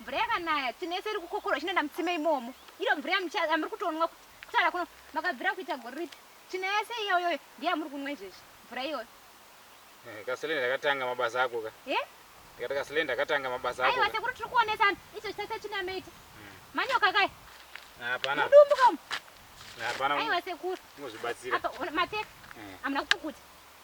Mvura yakanaya tsinese iri kukokorwa ichinoenda mutsime imomo. Iro mvura yamucha- yamuri kutonwa ku- kutara kuno makabvira kuita gore ripi? Tsvina yese iyoyoyo ndiyo yamuri kunwa izvezvi mvura iyoyo. Eh, Kasile ndakatanga mabasa ako ka. He? Ndikati Kasile ndakatanga mabasa ako Aiwa ka. sekuru tiri kuonesana icho chitasa tsvina yameita. Manyoka kaya Hapana, mudumbu kamu. hapana Aiwa sekuru. muzvibatsira. Apa ona- mateka Eh. amuna kupukuta.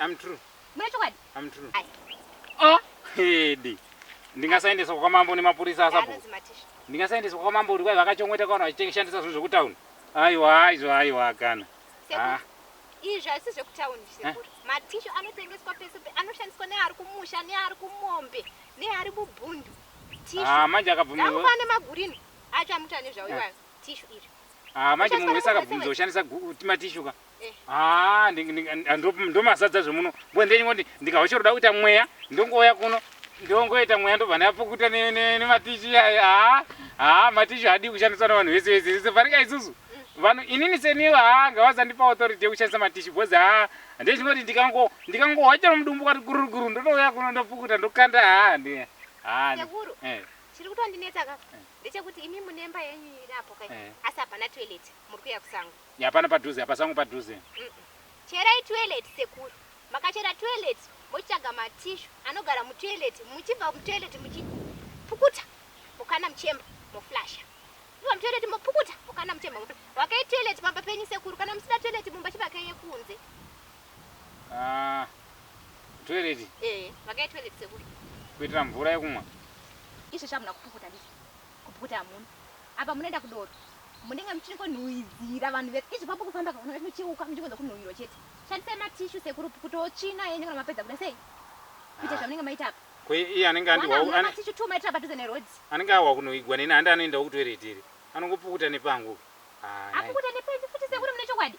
I'm true. Mune chokwadi? I'm true. Ayi. Ah, hedi. Ndingasaendeswa kwa mambo nemapurisa asabu. Ndingasaendeswa kwa mambo ndikwai vakachongweta kwa vanhu vachishandisa zvinhu zvekutauni. Aiwa, aiwa, aiwa kana. Ah. Izvi haisi zvekutauni sekuru. Eh? Matishu anotengeswa pese anoshandiswa neari kumusha neari kumombe neari mubhundu. Tishu. Ah, manje akabvumirwa. Nakupa nemagurini acho amuta nezvawo iwayo. Eh. Tishu iri. Ah, manje munhu wese akabvunza ushandisa timatishuka eh. ah, ah, ndomasadza zvemuno mbo ndenyingoti ndikahochoroda kuita mweya ndongouya kuno ndongoita mweya ndobva ndapukuta nematishi aya ah, matishi haadii kushandiswa navanhu vese vese vese farika isusu mm. vanhu inini seniwo ha ngavazandipa authority yekushandisa matishi bcause ha ndechingoti ndikangohochera mudumbu kwati gururuguru ndotouya kuno ndopukuta ndokanda ha ndi ha Chiri kutondinetsa ka ndechekuti imi mune mba yenyu iri apo kai Eh. asi hapana toilet muri kuya kusango. Hapana padhuze apa sango padhuze. Mm-mm. Cherai toilet sekuru. Makachera toilet mochitsvaga matishu anogara mutoilet muchibva mutoilet muchipukuta mukana muchemba moflasha. Mobva mutoilet mopukuta mukana muchemba moflasha. Vakai toilet pamba penyu sekuru kana musina toilet mumba chivakai yekunze. Ah, toilet. Eh, vakaye toilet sekuru. Kuitira mvura yekumwa. Ishe shamhu nakupukuta ndizvo. Kupukuta hamuna. Apa munoenda kudoro. Munenge muchingonhuhwidzira vanhu vese. Izvi kwambo kufamba kana muchiuka muchingonza kunhuhwirwa chete. Shandisai matishu sekuru pukutawo tsvina yenyu kana mapedza kuda sei? Kuita zvamunenge maita apa. Ko iye anenge andiwa Wanga mune matishu two maitira padhuze neroad. Anenge ahwa kunoigwa neni handi anoendawo kutoilet iri. Anongopukuta nepangu. Ah, nice. Apukuta nepenyu futi sekuru mune chokwadi.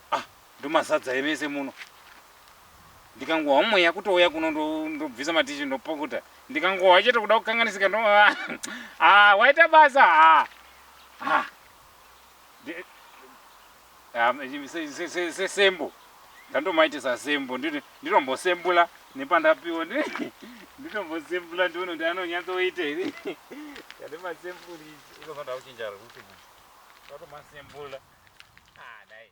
Ah ndomazadza here mese muno. Ndikangohwa mweya kutouya kuno ndobvisa matishi ndopukuta. Ndikangohwa chete kuda kukanganisika ndo ah waita basa ah. Ah. Ah se se se se sembo. Ndandomaitisa sembo ndinombosembula nepandapiwa ndinombosembula ndione kuti anonyatsoita here. Ndati masembuli ikozonda kuchinja rekuti. Ndatomasembula. Ah, dai.